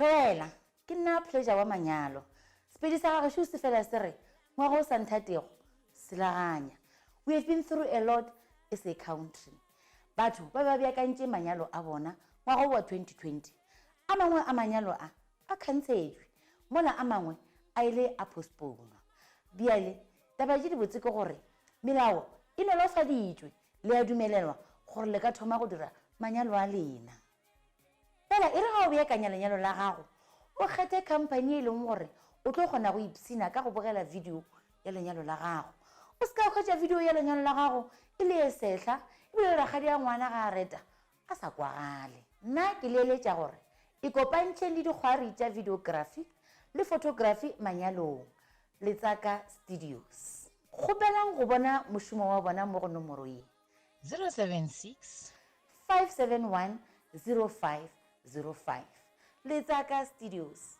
Theoela, Ke nna Pleasure wa manyalo. Sepedi sa ga gešo se fela se re, Ngwaga o sa nthatego, selaganya. We have been through a lot as a country. Batho ba be ba beakantše manyalo a bona ngwaga wo wa 2020. A mangwe a manyalo a A kgantšhetšwe, mola a mangwe a ile a postpounwa. Bjale, taba tše dibotse ke gore, melao e nolofaditšwe, le a dumelelwa gore le ka thoma go dira manyalo a lena. Fela e re ga o beakanya lenyalo la gago, o kgethe khamphani e leng gore o tlo kgona go ipshina ka go bogela video ya lenyalo la gago. O se ka hwetša video ya lenyalo la gago e le e sehla, ebile le rakgadi a ngwana ga a reta, a sa kwagale. Nna ke le eletša gore ikopantšheng le dikgwari tša videografi le fotografi manyalong, Letsaka Studios. Kgopelang go bona mošomo wa bona mo go nomoro ye. 076 571 0505. Letsaka Studios.